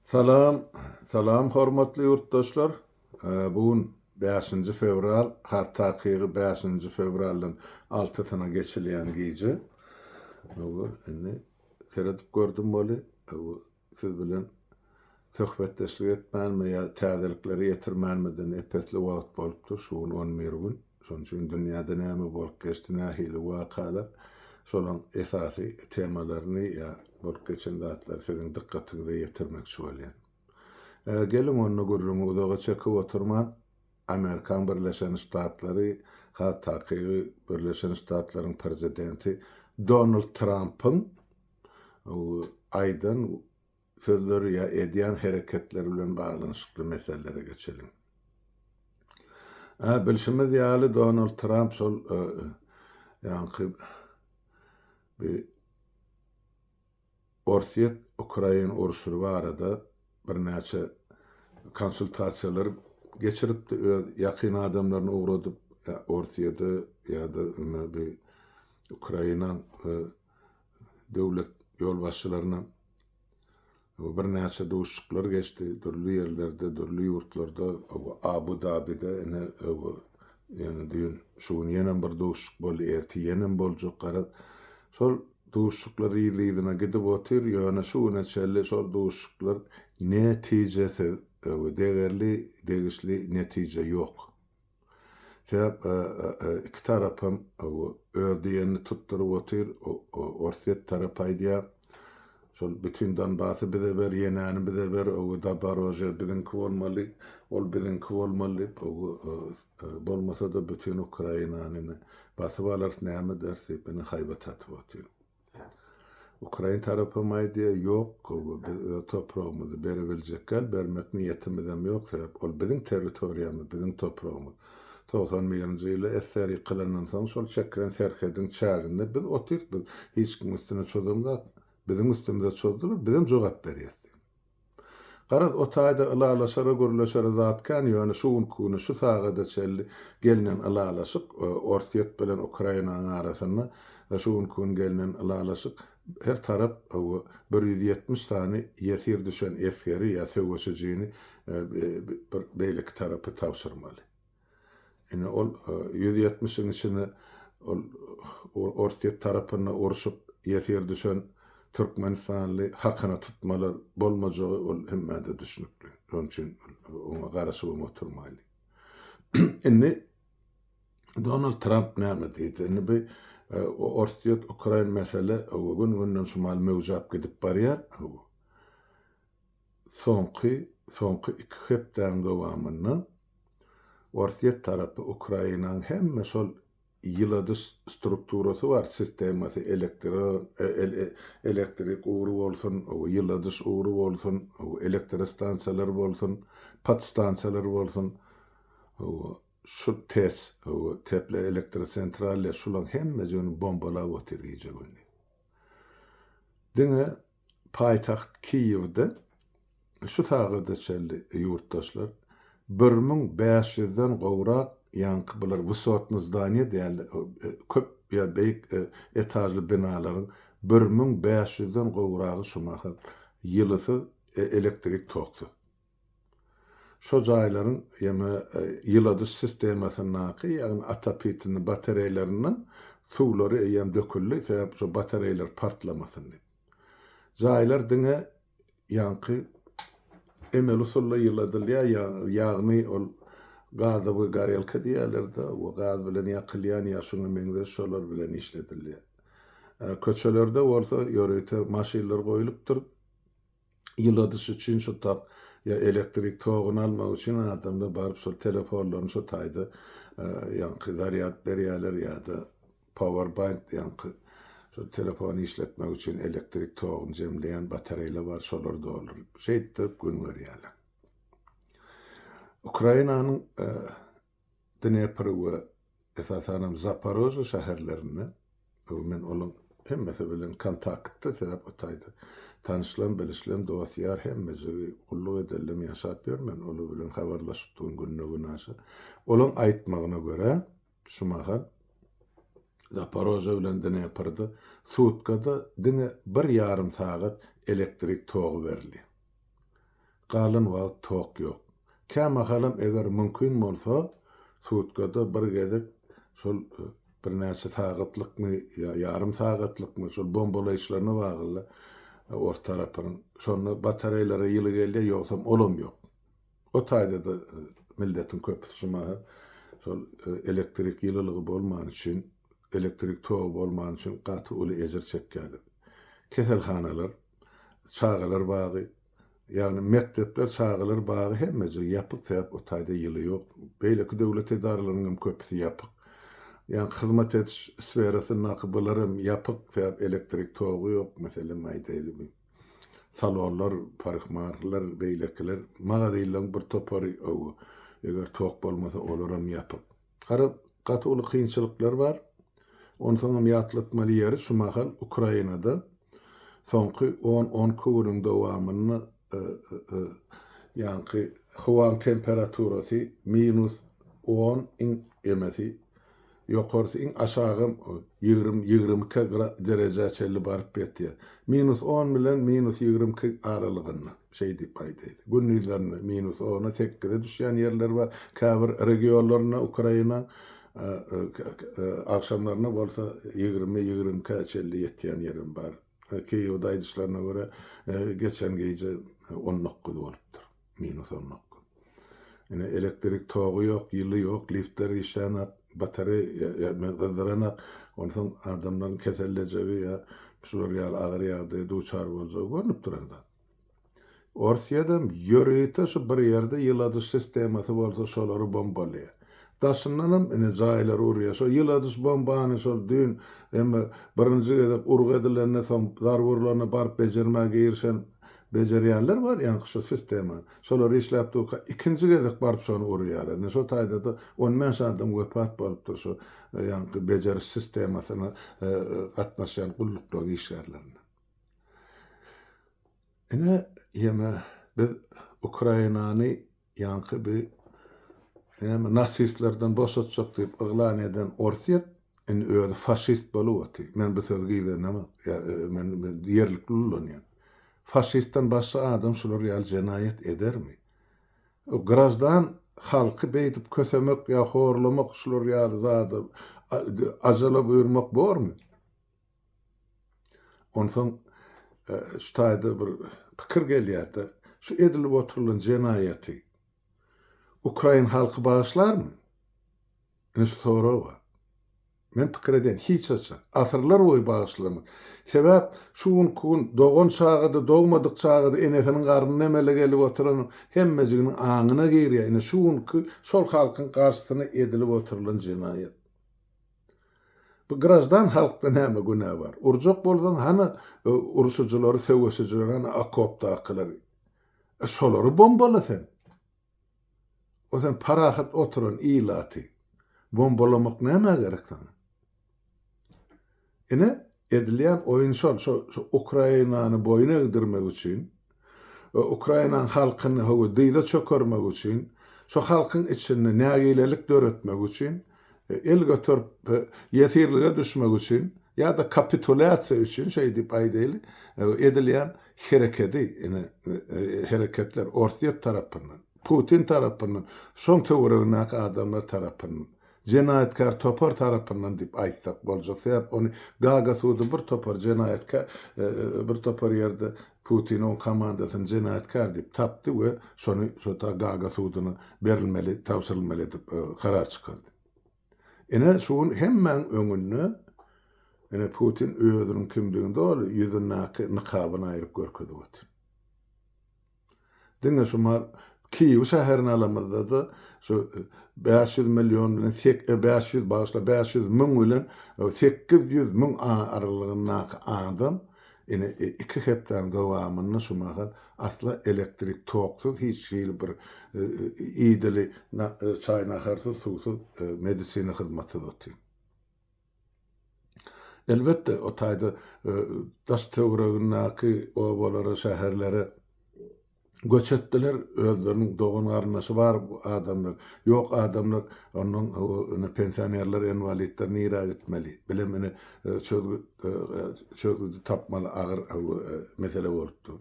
Salam, salam hormatly ýurtdaşlar. Bu gün bäşinji fewral, has takygy bäşinji fewraldan altysyna geçilýän gije. Hawa, indi seredip gördüm weli, hawa, siz bilen söhbetdeşlik etmänime ýa täzelikleri ýetirmänimeden epesli wagt bolupdyr, şu gün on bir gün. Şonuň üçin dünýäde näme bolup geçdi, nähili wakalar, şolaryň esasy temalaryny ýa bolup geçen zatlary siziň dykgatyňyza ýetirmekçi bolýan. Geliň onda gürrüňi uzaga çekip oturman, Amerikan Birleşen Ştatlary, ha takygy Birleşen Ştatlaryň Prezidenti Donald Trampyň aýdan sözleri ýa edýän hereketleri bilen baglanyşykly meselelere geçeliň. A bilşimiz ýaly Donald Tramp şol ýaňky bi Orsýet Ukrain urşury barada birnäçe konsultasiýalar geçiripdi öz ýakyn adamlaryny ugradyp Orsýede ýa-da bi Ukraina döwlet ýolbaşçylaryna birnäçe duşuşyklar geçdi. Dürli ýerlerde, dürli ýurtlarda, Abu Dabide ine ýöne düýn şu gün ýenem bir duşuşyk boldy, ertir ýenem boljak garaz. Şol duşuşyklar yzly-yzyna gidip otyr, ýöne şu güne çenli şol duşuşyklar netijesiz, degerli, degişli netije ýok. Sebäp iki tarap hem öz diýenini tutduryp otyr. Orsýet tarapy aýdýar, şol bütin Donbasy bize ber, Ýenäni bize ber, Daborožýe biziňki bolmaly, ol biziňki bolmaly diýip, bolmasa-da bütin Ukrainany basyp alarys, näme ederis diýip, indi haýbat atyp otyr. Ukrain tarapam aýdýar, ýok, biz öz topragymyzy berebiljekgäl, bermek niýetimizem ýok, sebäp ol biziň territoriýamyz, biziň topragymyz. Togsan birinji ýyly SSR ýykylandan soň şol çekilen serhediň çäginde biz otyrys, biz hiç kimiň üstüne çozamzok, biziň üstümize çozdular, bizem jogap berýäs diýip. Garaz, o taýda ylalaşara, gürleşere zat kän, ýöne şu günki güni, şu sagada çenli gelnen ylalaşyk, Orsýet bilen Ukrainanyň arasynda şu günki gün gelnen ylalaşyk, her tarap bir ýüz ýetmiş sany ýesir düşen esgeri ýa söweşijini bir beýleki tarapa tabşyrmaly. Ine ol ýüz ýetmişiň içinde ol Orsýet tarapynda urşup ýesir düşen türkmenistanly hakyna tutmalar bolmajagy ol hemmede düşnükli. Şonuň üçin oňa garaşyp hem oturmaýly. Indi Donald Tramp näme diýdi? Indi bu e, Orsýet Ukrain mesele gün-günden şumal möwjap gidip barýar. Soňky soňky iki hepdäň dowamynda Orsýet tarapy Ukrainaň hemme şol ýyladyş strukturasy bar, sistemasy, elektro e elektrik ugry bolsun, ýyladyş ugry bolsun, elektrostansiýalar bolsun, podstansiýalar bolsun, şu TES, teploelektrosentralýa, şulaň hemmejigini bombalap otyr gije-gündiz. Diňe Paýtagt Kiýewde şu sagada çenli ýurtdaşlar bir müň bäş ýüzden gowrak ýaňky bular wysotny zdaniýa däldi, köp ýa beýik etažly binalaryň bir müň bäş ýüzden gowragy şu mahal ýylysyz, elektrik toksuz. Şo jaýlaryň ýene ýyladyş sistemasyndaky, ýagny atapitinni batareýlernden suwlary eýýäm döküldi, sebäp şo batareýler partlamasyn diýip. Jaýlar diňe ýaňky emeli usulda ýyladylýar, ýagny ol gazowy gorelka diýýärler-de, we gaz bilen ýakylýan ýa şuňa meňzeş şolar bilen işledilýär. Köçelerde bolsa ýörite maşynlar goýlupdyr. ýyladyş üçin şu tak ýa elektrik toguny almak üçin adamlar baryp şol telefonlaryny şu taýda ýaňky zarýad berýärler ýa-da powerbank ýaňky şu telefony işletmek üçin elektrik toguny jemleýän batareýler bar şolary dolduryp şeýtdirip gün görýärler. Ukrainanyň Dnepr we esasanam Zaporojýe şäherlerinde, bu men olaň hemmesi bilen kontaktda sebäp o taýda tanyşlam, bilişlem, dost, ýar hemmejigi gulluk edenlem ýaşap ýör, men olar bilen habarlaşypdygym günde-günaşa. Olaň aýtmagyna görä, şu mahal Zaporojýe bilen Dneprde sutkada diňe bir ýarym sagat elektrik togy berilýär. Galan wagt tok ýok. Kämahalam eger mümkin bolsa, sutkada bir gezek şol birnäçe sagatlykmy ýa ýarym sagatlykmy şol bombalaýyşlaryna bagly ors tarapynyň. Şonda batareýlere ýyly gelýär, ýogsam olam ýok. O taýda-da milletiň köpüsi şu mahal şol elektrik ýylylygy bolmany üçin, elektrik togy bolmany üçin gaty uly ejir çekýärler. Keselhanalar. çagalar bagy, ýagny mekdepler, çagalar bagy hemmeje ýapyk, sebäp o taýda ýyly ýok. Beýleki döwlet edaralarynyň hem köpüsi ýapyk. Ýagny hyzmat ediş sferasyndaky bular hem ýapyk, sebäp elektrik togy ýok, meselem aýdaýly bu salonlar, parykmahler, beýlekiler, magazynlaryň bir topary, hawa, eger tok bolmasa olar hem ýapyk. Garaz, gaty uly kynçylyklar bar. Onsoňam ýatlatmaly ýeri, şu mahal Ukrainada soňky on-on iki günüň dowamynda ýaňky howaň temperaturasy minus on, iň emesi ýokarsy, iň aşagam ýigrimi, ýigrimi iki derejä çenli baryp ýetýär. Minus on bilen minus ýigrimi iki aralygynda. Şeý diýip aýdaýly, gündizlerine minus ona sekize düşýän ýerler bar, käbir regionlarynda Ukraina, agşamlaryna bolsa ýigrimi, ýigrimi ikä çenli ýetýän ýerem bar. Kiýewde aýdyşlaryna görä, geçen gije on dokuz bolupdyr, minus on dokuz. Ine, elektrik togy ýok, ýyly ýok, liftler işlänok, batareýa gyzdyranak, onsoň adamlaryň kesellejegi ýa şular ýaly agyr ýagdaýa duçar boljagy görnüp duran zat. Orsýedem ýörite şu bir ýerde ýyladyş sistemasy bolsa şolary bombalaýar. Daşyndanam ine jaýlary urýar. Şo ýyladyş bombany şol düýn emme birinji gezek urgy edilende soň zarba urlanda baryp bejermä girişen bejerýänler bar ýaňky şo sistemany. Şolar işläp durka ikinji gezek baryp şony urýarlar. Ine şo taýdada on bäş adam wepat bolupdyr şu ýaňky bejeriş sistemasyna gatnaşýan gulluklaryň işgärleriniň. Ine, ýene biz Ukrainany ýaňky bi näme nasistlerden boşatjak diýip yglan eden Orsýet indi özi faşist bolup otyr. Men bu sözi gizlenamok. Ýa, e, men ýerlikli ulanýan. Faşistden başga adam şular ýaly jenaýat edermi? O grajdan halky beýdip kösemek ýa horlamak şular ýaly zada ajala buýurmak bormy? Onsoň şu taýda bir pikir gelýär-de, şu edilip oturylan jenaýaty ukrain halky bagyşlarmy? Ine şu sorag bar. Men pikir edýän, hiç haçan. Asyrlar boýy bagyşlamaz. Sebäp şu günki gün dogan çaga-da, dogmadyk çaga-da enesiniň garnyna emele gelip oturan hemmejiginiň aňyna girýär, ine şu günki şol halkyň garşysyna edilip oturylan jenaýat. Bu graždan halkda näme günä bar? Urjak bolsaň hany urşujylary söweşijilary hany okopdakylary? E şolary bombala sen. O sen parahat oturan ilaty bombalamak nämä gerek saňa? Ine Edilýän oýun şol, şo Ukrainany boýun egdirmek üçin we Ukrainaň halkyny howa dyza çökermek üçin, şo halkyň içinde nägilelik döretmek üçin, el göterip ýesirlige düşmek üçin ýa-da kapitulýasiýa üçin şeý diýip aýdaýly, edilýän herekedi, ine, hereketler Orsýet tarapyndan, Putin tarapyndan, şoň töweregindäki adamlar tarapyndan jenaýatkär topar tarapyndan diýip aýtsak boljak, sebäp ony Gaga sudy bir topar jenaýatkär, bir topar ýerde Putin oň komandasyny jenaýatkär diýip tapdy we şony şota Gaga sudyna berilmeli, tabşyrylmaly edip karar çykardy. Ine şu gün hemmäň öňünde ine Putin özüniň kimdigini doly ýüzündäki nykabyny aýryp görkezip otyr. Diňe şu Mar Kiýew şäherini alamyzda-da, şu bäş ýüz million bilen sek bäş ýüz, bagyşla, bäş ýüz müň bilen sekiz ýüz müň aralygyndaky adam ine, iki hepdäniň dowamynda şu mahal asla elektrik toksyz, hiç hili bir idili çaý-naharsyz, suwsyz, medisina hyzmatsyz otyr. Elbetde, o taýda daş-töweregindäki obalara, şäherlere göç etdiler, özleriniň dogan-garyndaşy bar adamlar, ýok adamlar, onnoň ine pensionerler, enwalidler nirä gitmeli? Bilem ine çözgüt çözgüdi tapmaly agyr mesele bolup dur.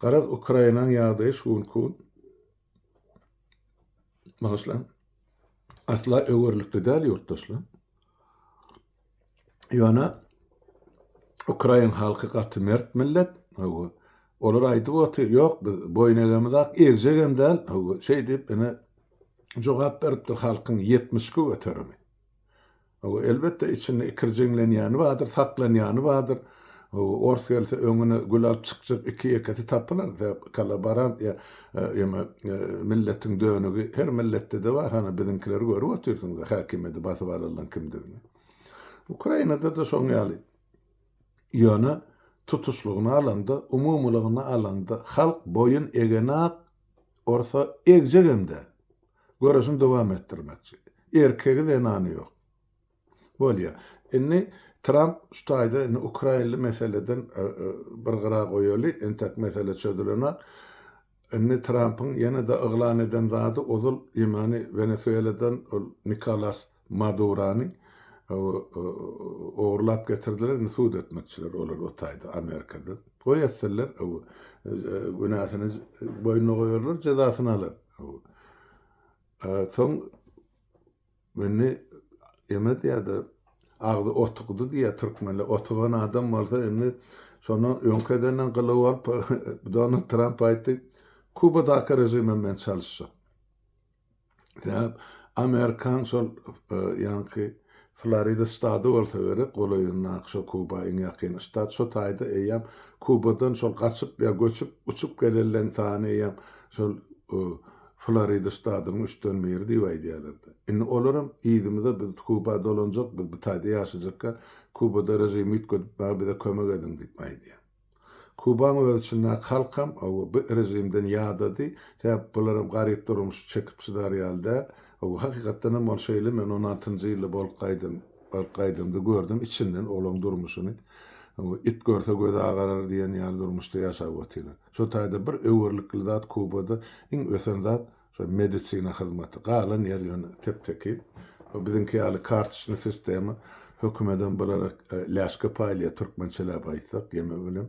Garaz, Ukrainaň ýagdaýy şu günki gün Bagyşlaň. Asla öwerlikli däl ýurtdaşlar. Ýöne Ukrain halky gaty mert millet. Hawa. Olar aýdyp oty, ýok biz boýun egemiz ak, egjek hem däl. Hawa, şeý diýip ene jogap beripdir halkyň 72 göterimi. Elbetde içinde ikirjeňlenýäni bardyr, saklanýany bardyr. Ors gelse öňüne gül alyp çykjak iki-ýekesi tapylar, sebäp kollaborant ýa ýa-da milletiň dönügi her milletde-de bar, hany biziňkileri görüp otyrsyňyz-a häkimiýeti basyp alanlaň kimdigini. Ukrainada-da şoň ýaly. Ýöne tutuşlygyna alanda, umumylygyna alanda halk boýun egenok. Orsa egjegem däl. Göreşini dowam etdirmekçi. Erkegi, zenany ýok. Bolýar. Indi Tramp şu taýda indi ukrainli meseleden bir gyra goýaly, entek mesele çözülenak. Indi Trampyň ýene-de yglan eden zady ozal ýmany Wenesueladan ol Nikolas. Madurany ogurlap getirdiler indi sud etmekçiler olar o taýda Amerikada. Toý etseler günäsini boýnuna goýarlar jezasyny alar. Soň indi eme diýýärdi agzy otugdy diýýär türkmenler otugan adam bolsa indi şondan öňki edenden gylyw alyp Donald Tramp aýtdy Kubadaky režimem men çalyşjak. Sebäp amerikan şol ýaňky Florida ştady bolsa gerek, golaýyndaky şo Kuba iň ýakyn ştat. Şo taýda eýýäm Kubadan şol gaçyp ýa göçüp, uçup gelenleň sany eýýäm şol Florida ştadynyň üçden biri diýip aýdýarlar-da. Indi olaram yzymyza biz Kuba dolanjak, biz bu taýda ýaşajakka Kubada režimi üýtgedipmäge bize kömek ediň diýip aýdýar. Kubaň öz içindäki halkam owo bu režimden ýadady, sebäp bularam garyp durmuşy çekip çydar ýaly däl. Owo hakykatdanam ol şeýle men on altynjy ýylda bolup gaýdym, baryp gaýdamda gördüm içinden olaň durmuşyny. Owo it görse gözi agarar diýen ýaly durmuşda ýaşap otyrlar. Şo taýda bir öwerlikli zat Kubada iň ösen zat Şol medisina hyzmaty. Galan ýer ýöne tep-tekiz. Şo biziňki ýaly kartoçny sistema. Hökümedem bulara läşke paýlaýar, türkmençeläp aýtsak, ýeme bilen,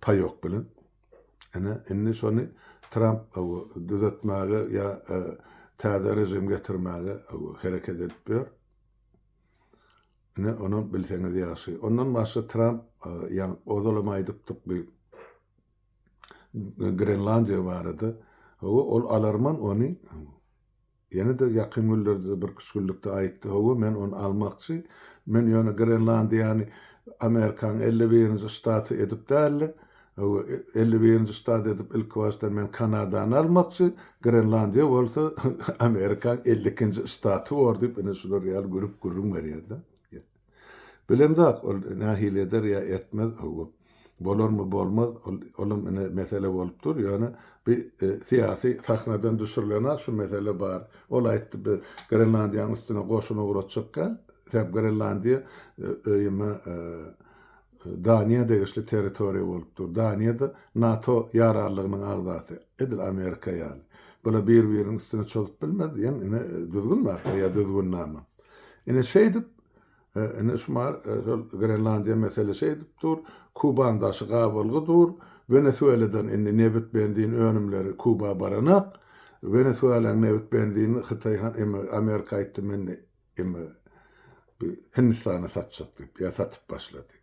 paýok bilen. Ine, indi şony Tramp düzetmäge ýa täze režim getirmäge hereket edip ýör. Ine, onam bilseňiz ýagşy. Ondan başga Tramp, ýa ozalam aýdypdyk biz, Grenlandiýa barada. Hawa, ol alarman ony. Ýene-de ýakyn günlerde bir küşgünlikde aýtdy. Hawa, men ony almakçy. Men ýöne Grenlandiýany Amerikanyň elli birinji ştaty edip däl-de, hawa, elli birinji ştat edip ilkibaşdan men Kanadany almakçy, Grenlandiýa bolsa Amerikanyň elli ikinji ştaty bor diýip, ine şular ýaly gürrüň berýär-de. Bilemzok, ol nähili eder ýa etmez, hawa, bolarmy, bolmaz, ol, olam ine mesele bolup dur, ýöne bi syýasy sahnadan düşürilen-ä şu mesele bar. Ol aýtdy, bi Grenlandiýanyň üstüne goşun ugratjak däl, sebäbi Grenlandiýa öýüme, Daniýa degişli territoriýa bolup dur. Daniýa-da NATO ýararlygynyň agzasy, edil Amerika ýaly. Bular bir-biriniň üstüne çozup bilmez diýen ine düzgün bar ýa düzgünnama. Ine şeýdip, ine şu mar şol Grenlandiýa mesele şeýdip dur, Kuban daşy gabalgy dur, Wenesueladan indi nebit, benzin önümleri Kuba baranak. Wenesuelaň nebit, benzini Hytaý han, eme Amerika aýtdy men Emma bu Hindistana satjak diýip, ýa satyp başlady.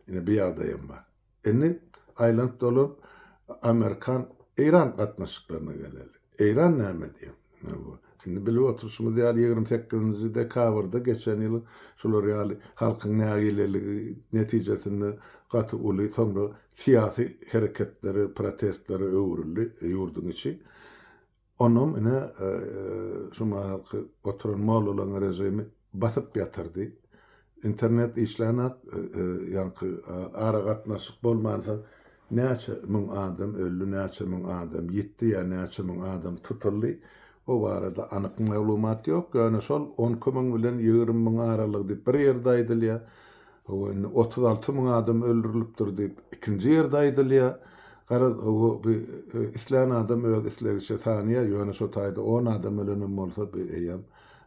Ine bu ýagdaý hem bar. Indi aýlanyp dolanyp Amerikan Eýran gatnaşyklaryna geleli. Eýran näme diýýär? Ine bu indi bilip oturşymyz ýaly ýigrimi sekizinji dekabrda geçen ýyl şular ýaly halkyň nägileligi netijesinde gaty uly soňra syýasy hereketlere, protestlere öwrüldi ýurduň içi. Onam ine şu mahalky oturan mollalaň režimi basyp ýatyrdy. Internet işlänok, ýaňky aragatnaşyk bolmansoň näçe müň adam öldi, näçe müň adam ýitdi ýa näçe müň adam tutuldy, o barada anyk maglumat ýok, ýöne şol on iki müň bilen ýigrimi müň aralygy diýip bir ýerde aýdylýar. Hawa, indi otuz alty müň adam öldürilipdir diýip, ikinji ýerde aýdylýar. Garaz, hawa, bi, islän adam öz islegiçe sanýar, ýöne şo taýda on adam ölenem bolsa, bi eýýäm,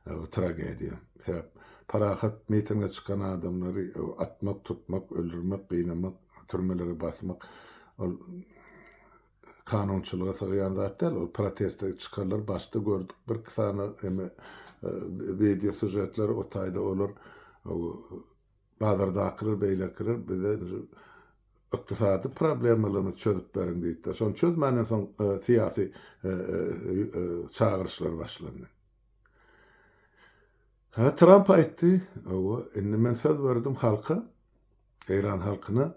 hawa, tragediýa. Sebäp, parahat mitinge çykan adamlary atmak, tutmak, öldürmek, gynamak, türmelere basmak, ol, kanunçylyga sygýan zat däl ol proteste çykarlar başda gördük bir iki sany eme wideo sujetler o taýda olar bazardakylar beýlekiler bize ykdysady problemalarymyzy çözüp beriň diýipdir. Şony çözmänden soň e, syýasy e, e, çagyryşlar başlandy. Ha Tramp aýtdy, indi men söz berdim halka, Eýran halkyna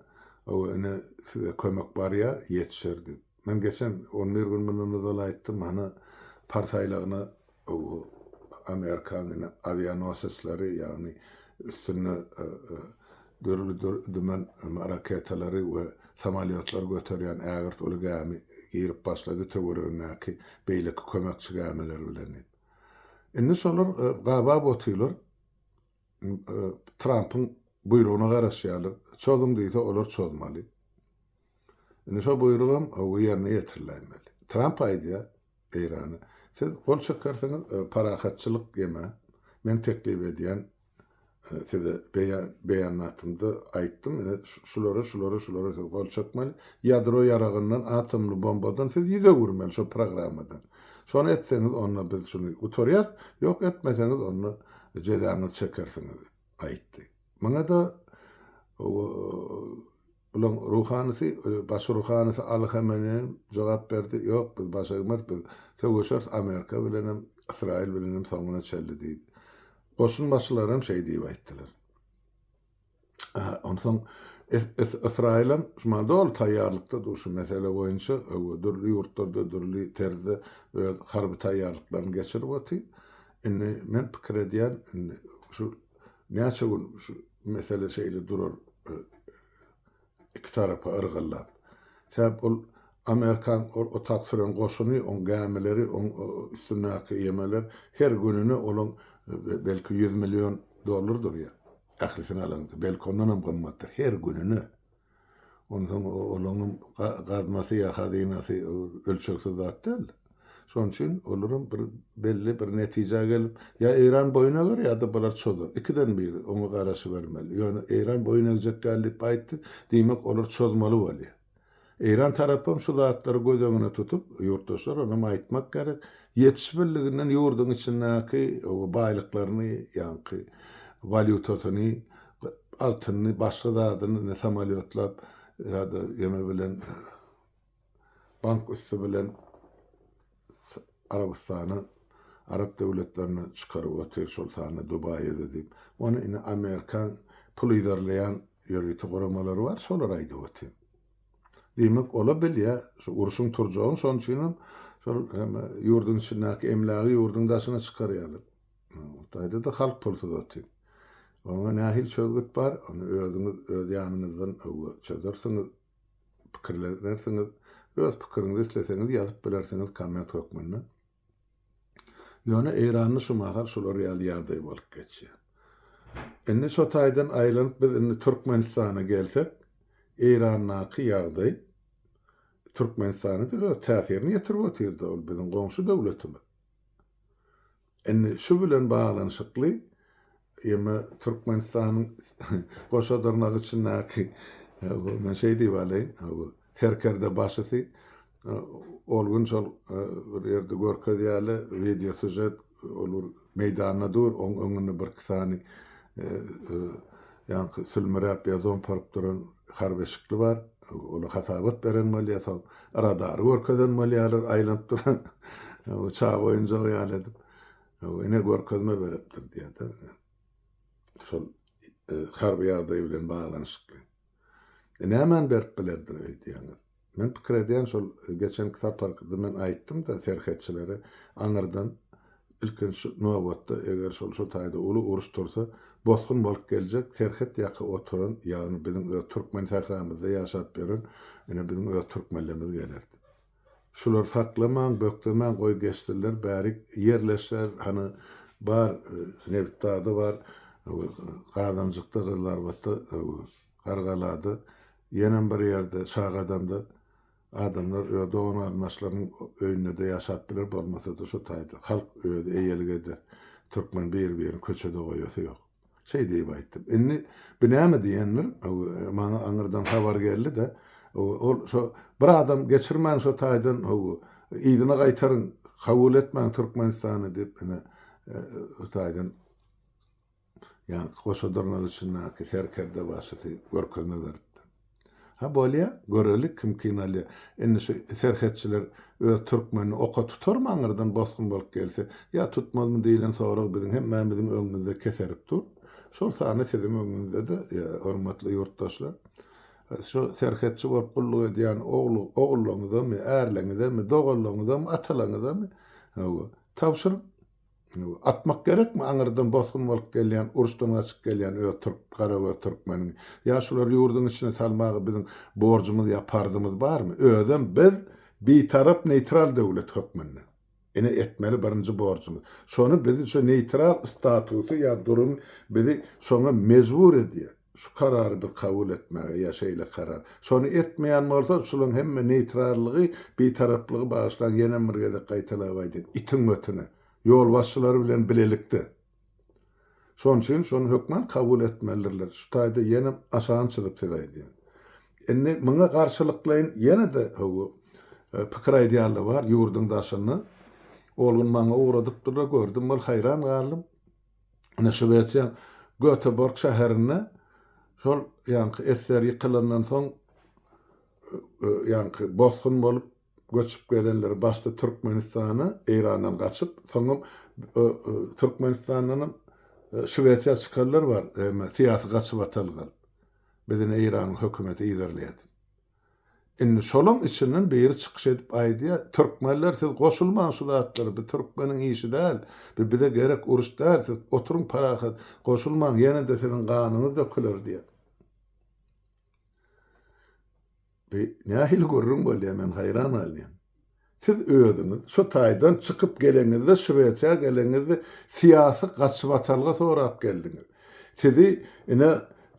ow ine size kömek barýar ýetişer diýip. Men geçen on bir gün mundan ozal aýtdym hany Pars aýlagyna ow amerikan ine awianosesleri ýagny üstünde dürli dümen raketalary we samolýotlary göterýän ägirt uly gämi girip başlady töweregindäki beýleki kömekçi gämiler bilen diýip. Indi şolar gabaw otylar Trampyň buýrugyna garaşýarlar. Çozuň diýse, olar çozmaly. Indi şo buýrugam ýerine ýetiriläýmeli. Tramp aýdýar Eýrana, siz gol çekersiňiz, parahatçylyk ýeme, men teklip edýän, size beýanatymda aýtdym, ine, şulara, şulara, şulara siz gol çekmeli, ýadro ýaragyndan, atomly bombadan siz ýüz öwürmeli şo programmadan. Şony etseňiz, onda biz şuny gutarýarys, ýok, etmeseňiz, onda Jezaňyzy çekersiňiz, aýtdy. Muňa-da bulaň ruhanysy, baş ruhanysy Aly Hameneýem jogap berdi, Ýok, biz baş egmeris, biz söweşeris Amerika bilenem, Ysraýyl bilenem soňuna çenli diýdi. Goşunbaşylaram şeý diýip aýtdylar. Onsoň Ysraýylam şu maňa doly taýýarlykda dur şu mesele boýunça. Öwgü dürli ýurtlarda dürli terzde öz harby taýýarlyklaryny geçirip otyr. Indi men pikir edýän, indi şu näçe gün şu mesele şeýle durar e, iki tarapa yrgyllap. Sebäp ol Amerikan ol otak süren goşuny, on gämileri, on e, üstündäki ýemeler her gününe olaň e, belki 100 million dollar durýar. Dahlysyny alanyňky, belki ondanam gymmatdyr. Her gününe. Onsoň olaňam gaznasy ýa hazynasy ölçegsiz zat däl. Şonuň üçin olaram bir belli bir netijä gelip, ýa Eýran boýun eger, ýa-da bular çozar. Ikiden biri, oňa garaşybermeli. Ýöne Eýran boýun egjek däl diýip aýtdy, diýmek, olar çozmaly bolýar. Eýran tarapam şu zatlary göz öňüne tutup, ýurtdaşlar onam aýtmak gerek, ýetiş birliginden ýurduň içindäki baýlyklaryny, ýaňky walýutasyny, altynyny, başga zadyny indi samolýotlap ýa-da ýeme bilen bank üsti bilen Arabystana Arap döwletlerine çykaryp otyr şol sanda Dubaýada diýip. Ony indi Amerikan pul yzarlaýan ýörite guramalary bar şolar aýdyp otyr. Diýmek ola bilýä şu urşuň turjagyny şoň üçinem şol hem ýurduň içindäki emlägi ýurduň daşyna çykarýarlar. Hytaýdada halk pulsuz otyr. Oňa nähili çözgüt bar ony özüňiz öz ýanyňyzdan öwre çözersiňiz. pikirlenersiňiz. Öz pikiriňizi isleseňiz ýazyp bilersiňiz komment hökmünde. Ýöne eýranly şu mahal şular ýaly ýagdaý bolup geçýär. Indi şo taýdan aýlanyp biz indi Türkmenistana gelsek, Eýrandaky ýagdaý Türkmenistana-da öz täsirini ýetirip otyrda ol biziň goňşy döwletimiz. Indi şu bilen baglanyşykly ýeme Türkmenistanyň goşa dyrnak içindäki men şeý diýip alaýyn, serkerde başysy ol gün şol bir ýerde görkezýärler wideo sužet ol bir meýdanda dur oň öňünde birki sany ýaňky sülmüräp ýa zomparyp duran harby eşikli bar. Ola hasabat beren bolýar, soň radary görkezen bolýarlar, aýlanyp duran uçak oýunjagy ýaly edip. Ine, görkezme beripdir diýýärdi. Şol harby ýagdaý bilen baglanyşykly. E, nämani berip bilerdir öýdýäňiz? Men pikir edýän şol geçenki saparky men aýtdym-da serhetçilere aňyrdan ilkinji nobatda eger şol şu taýda uly uruş tursa bosgun bolup geljek serhet ýaka oturan ýagny biziň öz türkmen sähramyzda ýaşap ýören ine biziň öz türkmenlerimiz geler diýip. Şular saklamaň bökdemäň goý geçsinler bärik ýerleşer hany bar nebit dagda bar gazanjykda gyzlarbatda Gargalada, ýenem bir ýerde, Şagadamda adamlar öz dogan-garyndaşlarynyň öýünde-de ýaşap biler, bolmasa-da şu taýda halk özi eýelik eder. Türkmen bir-birini köçede goýasy ýok. Şeý diýip aýtdym. Indi bu näme diýendir, maňa aňyrdan habar geldi-de, ol şo bir adam geçirmäň şo taýdan, yzyna gaýtaryň, kabul etmäň Türkmenistany diýip, ine, şu taýdan. Ýa-da goşa dyrnak içindäki serkerde başysy görkezme beripdir. Ha bolýa, görelik kim kyn alýa. Indi şu serhetçiler öz türkmenini oka tutarmy aňyrdan bosgun bolup gelse? Ýa tutmazmy diýlen sorag biziň hemmämiziň öňümizde keserip dur. Şol sanda siziň öňüňizde-de, hormatly ýurtdaşlar, şu serhetçi bolup gulluk edýän ogul-ogullaňyzamy, ärleňizemi, doganlaňyzamy, atalaňyzamy, hawa, tabşyryň. Atmak gerekmi aňyrdan bosgun bolup gelýän, uruşdan gaçyp gelýän öz türk, garagöz türkmeniňi? Ýa şulary ýurduň içine salmaga biziň borjumyz ýa parzymyz barmy? Özem biz bitarap, neýtral döwlet hökmünde. Ine etmeli birinji borjumyz. Şony biz şu neýtral statusy ýa durum bizi şoňa mejbur edýär. Şu karary biz kabul etmäge ýa şeýle karar. Şony etmeýän bolsa, şulaň hemme neýtrallygy, bitaraplygy bagyşlaň, ýenem bir gezek gaýtalap aýdyn, itiň ötüne. Ýolbaşçylary bilen bilelikde. Şon üçin şony hökman kabul etmelidirler. Şu taýda ýenem aşagyn çyzyp size aýdýan. Indi muňa garşylyklaýyn ýene-de howu pikir aýdýanlar bar ýurduň daşynda. Ol gün maňa ugradypdyrlar, gördüm, ol haýran galdym. Ine, Şwesiýa Göteborg şäherinde şol ýaňky esser ýykylandan soň ýaňky bosgun bolup göçüp gelenler başda Türkmenistana, Eýrandan gaçyp, soňam Türkmenistandanam Şwesiýa çykanlar bar, syýasy gaçybatalga. Biz ine Eýranyň hökümeti yzarlaýar. Indi şolaň içinden biri çykyş edip aýdýa, Türkmenler siz goşulmaň şu zatlara, bu türkmeniň işi däl, bu bize gerek uruş däl, siz oturyň parahat, goşulmaň, ýene-de siziň ganyňyz döküler diýýä. Bu nähili gürrüň bolýa, men haýran galýan. Siz özüňiz şu taýdan çykyp geleňizde Şwesiýa geleňizde syýasy gaçybatalga sorap geldiňiz. Sizi ine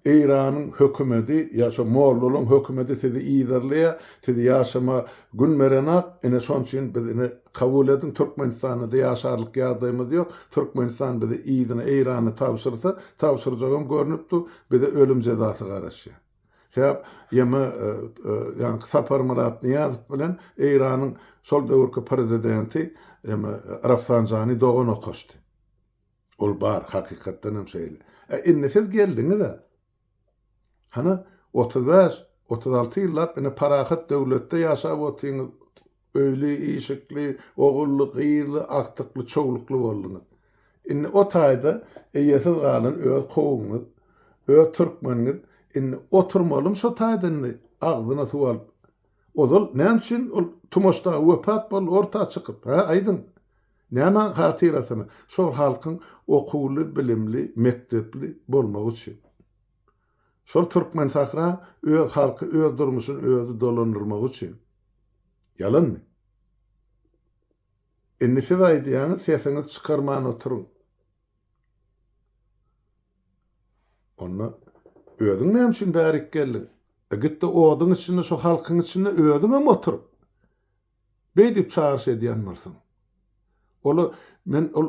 Eýranyň hökümedi ýa şo mollalaryň hökümedi sizi yzarlaýar, siz ýaşama gün berenak, ine şonuň üçin biz ine kabul ediň Türkmenistanda ýaşarlyk ýagdaýymyz ýok, Türkmenistan bizi yzyna Eýrana tabşyrsa, tabşyrjagam görnüp dur, bize ölüm jezasy garaşýar. Sebäp ýeme ýaňky Saparmyrat Nyýazow bilen Eýranyň şol döwürki prezidenti ýeme Rafsanjani dogan okaşdy. Ol bar, hakykatdan hem şeýle. Ä indi siz geldiňiz-ä. Hany otuz bäş, otuz alty ýyllap ine parahat döwletde ýaşap otyňyz, Öýli-işikli, ogully-gyzly, agtykly-çowlukly bolduňyz. Indi o taýda eýesiz galan öz kowumyňyz, öz türkmeniňiz indi oturmalymy şo taýda indi agzyna suw alyp? Ozal näme üçin ol Tumaş dagy wepat boldy orta çykyp, hä, aýdyň? Näme hatyrasyna? Şol halkyň okuwly, bilimli, mekdepli bolmagy üçin. Şol Türkmensahra öz halky öz durmuşyny özi dolandyrmagy üçin. Ýalanmy? Indi siz aýdýaňyz sesiňizi çykarman oturyň. Onda özüň näme üçin bärik geldiň? Gitde oduň içinde şo halkyň içinde özüňem otur. Beýdip çagyryş edýän bolsaň. Olar men ol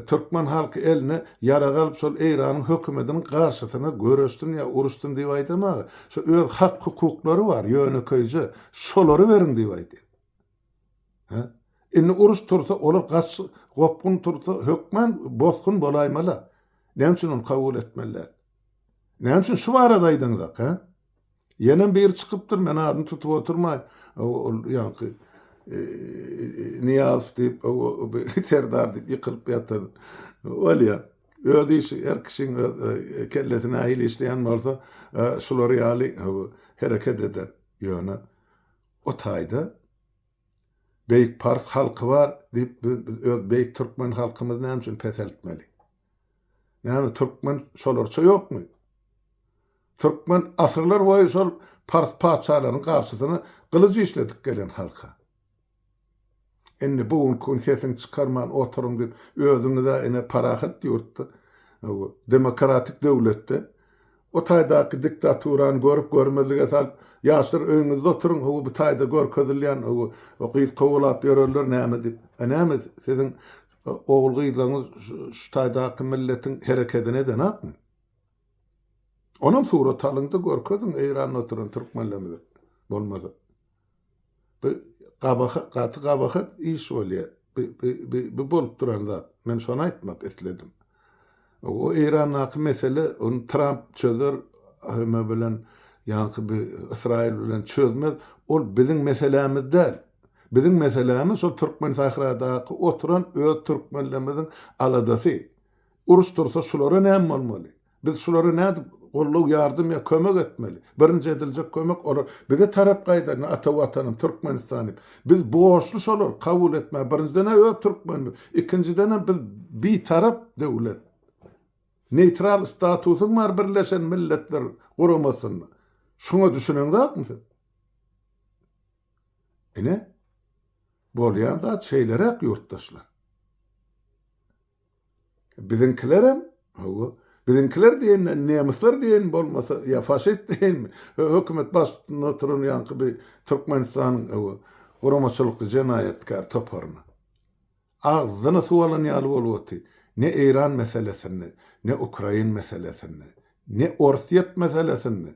türkmen halky eline ýarag alyp şol Eýranyň hökümediniň garşysyna göreşsin ýa uruşsyn diýip aýdamaga. Şo öz hak hukuklary bar ýönekeýje şolary beriň diýip aýdýar. Hä? Indi uruş tursa olar gaç gopgun tursa hökman bosgun bolaýmaly. Näme üçin ony kabul etmeli däl? Näme üçin şu barada aýdyňyzak hä? Ýenem biri çykypdyr, men adyny tutup oturmaý, ol ýaňky Nyýazow diýip, Serdar diýip ýykylyp ýatan. Bolýar. Öz işi, her kişiň öz kellesi nähili işleýän bolsa, şular ýaly hereket eder. Ýöne o taýda beýik pars halky bar diýip, biz öz beýik türkmen halkymyzy näme üçin peseltmeli? Näme türkmen şolarça ýokmy? Türkmen asyrlar boýy şol pars patyşalarynyň garşysyna gylyj işledip gelen halka. Indi bu günki gün sesiňi çykarman oturyň diýip özüňiz-ä ine parahat ýurtda, demokratik döwletde o taýdaky diktaturany görüp görmezlige salyp ýaşlar öýüňizde oturyň ho bu taýda görkezilýän o gyz kowalap ýörenler näme diýip. Näme siziň Ogul-gyzlaryňyz şu taýdaky milletiň herekedini edenokmy? Onam surat alyň-da görkeziň Eýranda oturan türkmenlerimize bolmasa. Bu gabahat, gaty gabahat iş bolýar. Bu bolup duran zat. Men şony aýtmak isledim. O Eýrandaky mesele ony Tramp çözer hme bilen ýaňky bi Ysraýyl bilen çözmez ol biziň meselämiz däl. Biziň meselämiz şol türkmen sahradaky oturan öz türkmenlerimiziň aladasy. Uruş dursa şulara näme bolmaly? Biz şulara nädip gollow ýardym ýa kömek etmeli? Birinji ediljek kömek olar bize tarap gaýda ata watanym Türkmenistan diýip. Biz borçly şolary kabul etmäge. Birinjiden-ä öz türkmenimiz. Ikinjidenem biz bitarap döwlet. Neýtral statusyň bar Birleşen Milletler Guramasynda. Şuňa düşüneňzakmy siz? Ine, bolýan zat şeýleräk ýurtdaşlar. Biziňkilerem, hawa, biziňkiler diýenden nemyslar diýen bolmasa, ýa faşist diýenmi, hökümet baştutunda oturan ýaňky bir Türkmenistanyň, hawa, guramaçylykly jenaýatkär toparyna. Agzyna suw alan ýaly bolup oty, ne Eýran meselesinde, ne Ukrain meselesinde, ne Orsýet meselesinde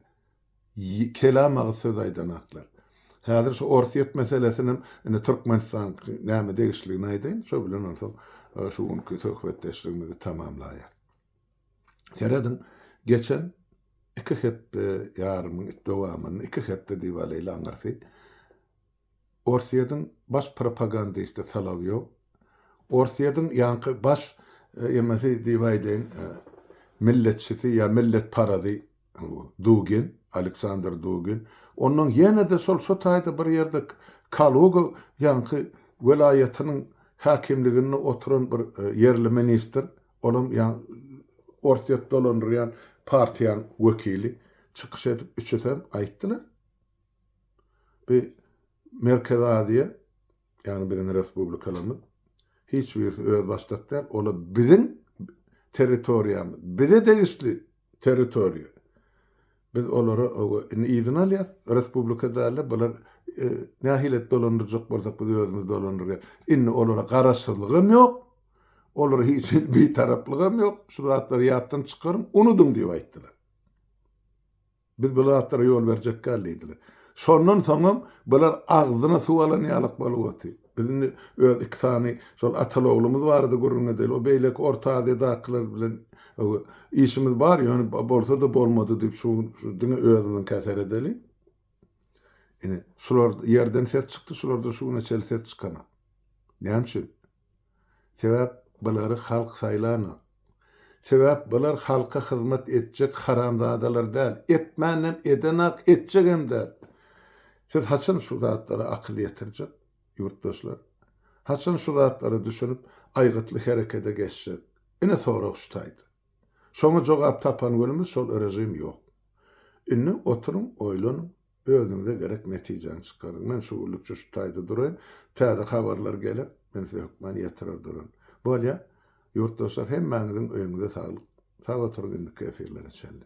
Kelam aga söz aýdan atlar. Häzir şu Orsýet meselesinem indi Türkmenistan näme degişligini aýdaýyn, şo bilen onsoň şu günki söhbetdeşligimizi tamamlaýarys. Serediň, geçen iki hepde ýarymyň dowamynda, iki hepde diýip alýly aňyrsy, Orsýetiň baş propagandisti Solowýow, Orsýetiň ýaňky baş emesi diýip aýdaýyn, milletçisi ýa milletparazy Dugin, Aleksandr Dugin, onnoň ýene-de şol şu taýda bir ýerde Kaluga ýaňky welaýatynyň häkimliginde oturan bir ýerli ministr, olam ýa Orsýet dolandyrýan partiýanyň wekili çykyş edip, üçüsem aýtdylar. Bu Merkezi Aziýa, ýagny biziň respublikalarymyz hiç birisi özbaşdak däl, olar biziň territoriýamyz, bize degişli territoriýa. Biz olara indi yzyny alýas, respublika dälde bular nähili et dolandyrjak bolsak biz özümiz dolandyrýas. Indi olara garaşsyzlygam ýok, olara hiç hili bitaraplygam ýok, şu zatlary ýatdan çykaryň, unudyň diýip aýtdylar. Biz bu zatlara ýol berjek däl diýdiler. Şondan soňam bular agzyna suw alan ýalak bolup otyr. Biz indi öz iki sany şol ataly-oglumyz barada gürrüň edeli. O beýleki Orta Aziýadakylar bilen işimiz bar, ýöne bolsa-da bolmady diýip şu gün diňe özümiňkä seredeli. Ine, şular ýerden ses çykdy, şulardan şu güne çenli ses çykanok. Näme üçin? Sebäp bulary halk saýlanok. Sebäp bular halka hyzmat etjek haramzadalar däl. Etmänem edenak etjegem däl. Siz haçan şu zatlara akyl ýetirjek ýurtdaşlar? Haçan şu zatlara düşünip aýgytly herekede geçjek? Ine sorag şu taýda. Şoňa jogap tapan günümiz şol režim ýok. Indi oturyň oýlanyň. Özüňize gerek netijäni çykaryň. Men şu günlükçe şu taýda duraýyn. Täze habarlar geler, men size hökman ýetirer duraryn. Bolýa. Ýurtdaşlar hemmäňiziň öýüňize saglyk. Sag oturyň indiki efirlere çenli.